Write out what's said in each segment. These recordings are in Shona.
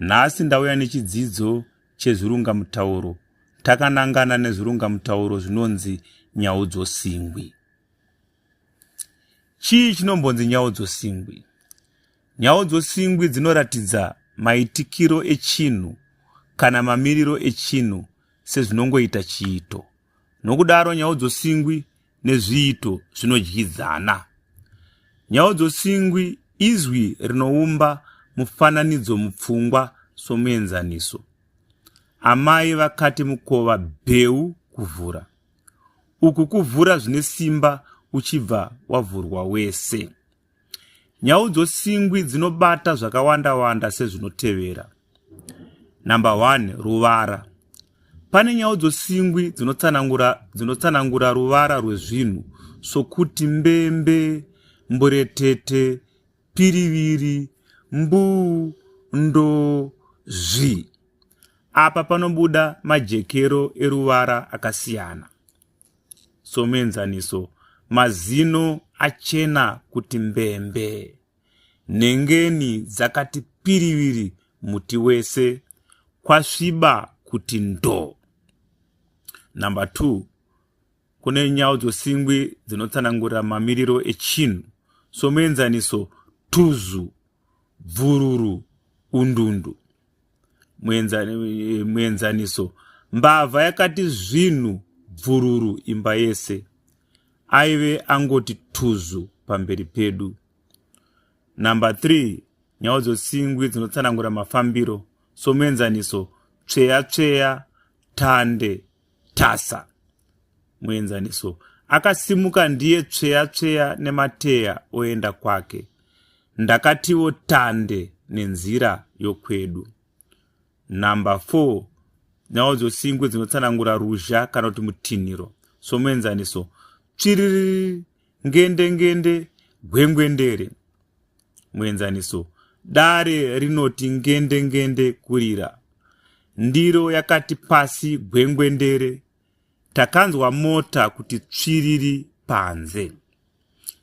Nhasi ndauya nechidzidzo chezvirungamutauro takanangana nezvirungamutauro zvinonzi nyaudzosingwi. Chii chinombonzi nyaudzosingwi? Nyaudzosingwi dzinoratidza maitikiro echinhu kana mamiriro echinhu sezvinongoita chiito. Nokudaro nyaudzosingwi nezviito zvinodyidzana. Nyaudzosingwi izwi rinoumba mufananidzo mupfungwa somuenzaniso. Amai vakati mukova bheu kuvhura. Uku kuvhura zvine simba uchibva wavhurwa wese. Nyaudzosingwi dzinobata zvakawanda-wanda sezvinotevera. Number one, ruvara. Pane nyaudzosingwi dzinotsanangura, dzinotsanangura ruvara rwezvinhu sokuti mbembe, mburetete, piriviri, mbuu, ndo, zvi. Apa panobuda majekero eruvara akasiyana. somuenzaniso mazino achena kuti mbembe nhengeni dzakati piriviri muti wese kwasviba kuti ndo number two kune nyau dzosingwi dzinotsanangurira mamiriro echinhu somuenzaniso tuzu bvururu undundu muenzaniso mbavha yakati zvinhu bvururu imba yese aive angoti tuzu pamberi pedu number 3 nyau dzosingwi dzinotsanangura mafambiro somuenzaniso tsveya tsveya tande tasa muenzaniso akasimuka ndiye tsveya tsveya nemateya oenda kwake ndakatiwo tande nenzira yokwedu number four nhau dzosingwe dzinotsanangura ruzha kana kuti mutinhiro somuenzaniso tsviriri ngendengende gwengwendere muenzaniso dare rinoti ngendengende kurira ndiro yakati pasi gwengwendere takanzwa mota kuti tsviriri panze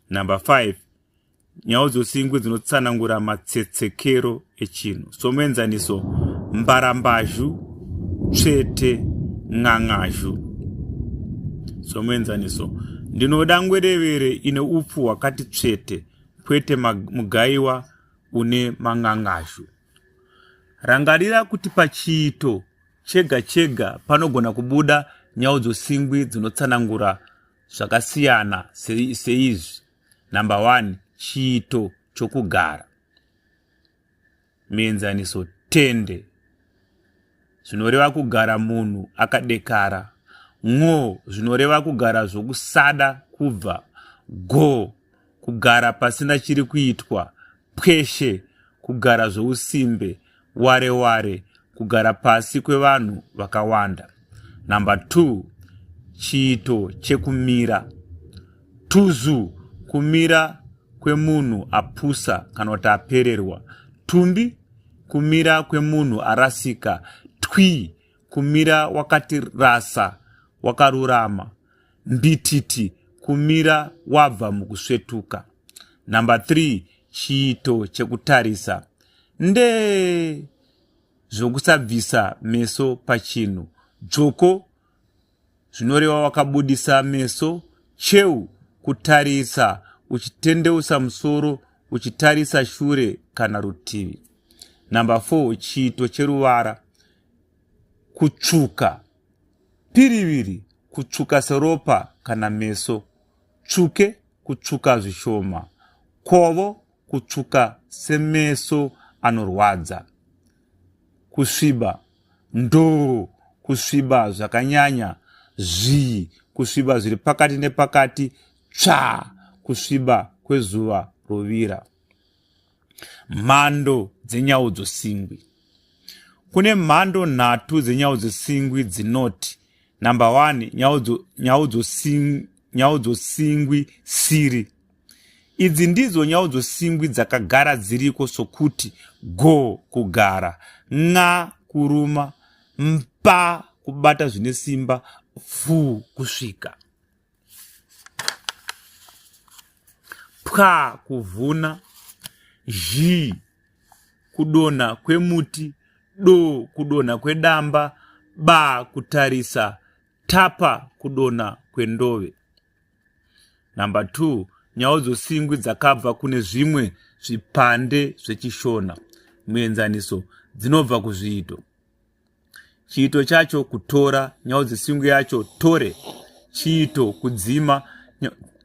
number 5 Nyaudzosingwi dzinotsanangura matsetsekero echinhu. Somuenzaniso, mbarambazhu, tsvete, ng'ang'azhu. Somuenzaniso, ndinoda ngwerevere ine upfu hwakati tsvete, kwete mugaiwa une mang'ang'azhu. Rangarira kuti pachiito chega chega panogona kubuda nyaudzosingwi dzinotsanangura zvakasiyana seizvi. number one chiito chokugara muenzaniso tende zvinoreva kugara munhu akadekara ngo zvinoreva kugara zvokusada kubva go kugara pasina chiri kuitwa pweshe kugara zvousimbe ware ware kugara pasi kwevanhu vakawanda number 2 chiito chekumira tuzu kumira kwemunhu apusa kana kuti apererwa tumbi kumira kwemunhu arasika twi kumira wakati rasa wakarurama Ndititi kumira wabva mukusvetuka. Number three, chiito chekutarisa ndee zvokusabvisa meso pachinhu. Dzvoko zvinoreva wakabudisa meso. Cheu kutarisa uchitendeusa musoro uchitarisa shure kana rutivi. Number four, chiito cheruvara kutsvuka. Piriviri, kutsvuka seropa kana meso. Tsvuke, kutsvuka zvishoma. Kovo, kutsvuka semeso anorwadza. Kusviba, ndoo, kusviba zvakanyanya. Zvii, kusviba zviri pakati nepakati. Tsvaa, kusviba kwezuva rovira. mhando dzenyaudzo singwi kune mhando nhatu dzenyaudzo singwi dzinoti number one nyaudzo, nyaudzo, sing, nyaudzo singwi siri idzi ndidzo nyaudzo singwi dzakagara dziriko sokuti go kugara nxa kuruma mpa kubata zvine simba fu kusvika pwa kuvhuna zhii kudonha kwemuti do kudonha kwedamba ba kutarisa tapa kudonha kwendove number 2 nyau dzosingwi dzakabva kune zvimwe zvipande zvechishona muenzaniso dzinobva kuzviito chiito chacho kutora nyaudzosingwi yacho tore chiito kudzima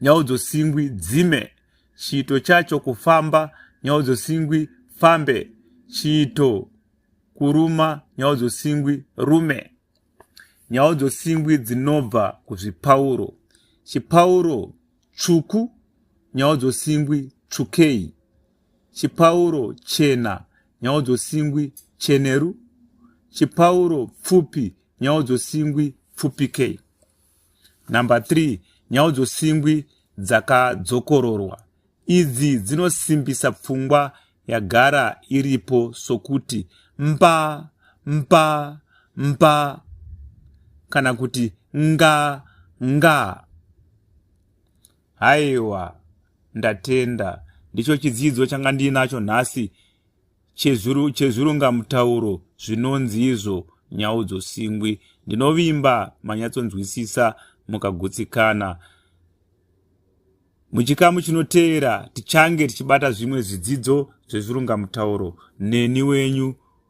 nyaudzosingwi dzime chiito chacho kufamba nyaudzosingwi fambe chiito kuruma nyaudzosingwi rume nyaudzosingwi dzinobva kuzvipauro chipauro tsvuku nyaudzosingwi tsvukei chipauro chena nyaudzo singwi cheneru chipauro pfupi nyaudzo singwi pfupikei number 3 nyaudzo singwi dzakadzokororwa idzi dzinosimbisa pfungwa yagara iripo sokuti mba mba mba kana kuti nga nga Haiwa, ndatenda. Ndicho chidzidzo changa ndiinacho nhasi chezvirungamutauro zvinonzi izvo nyaudzo singwi. Ndinovimba manyatsonzwisisa mukagutsikana. Muchikamu chinoteera tichange tichibata zvimwe zvidzidzo zvezvirungamutauro neni wenyu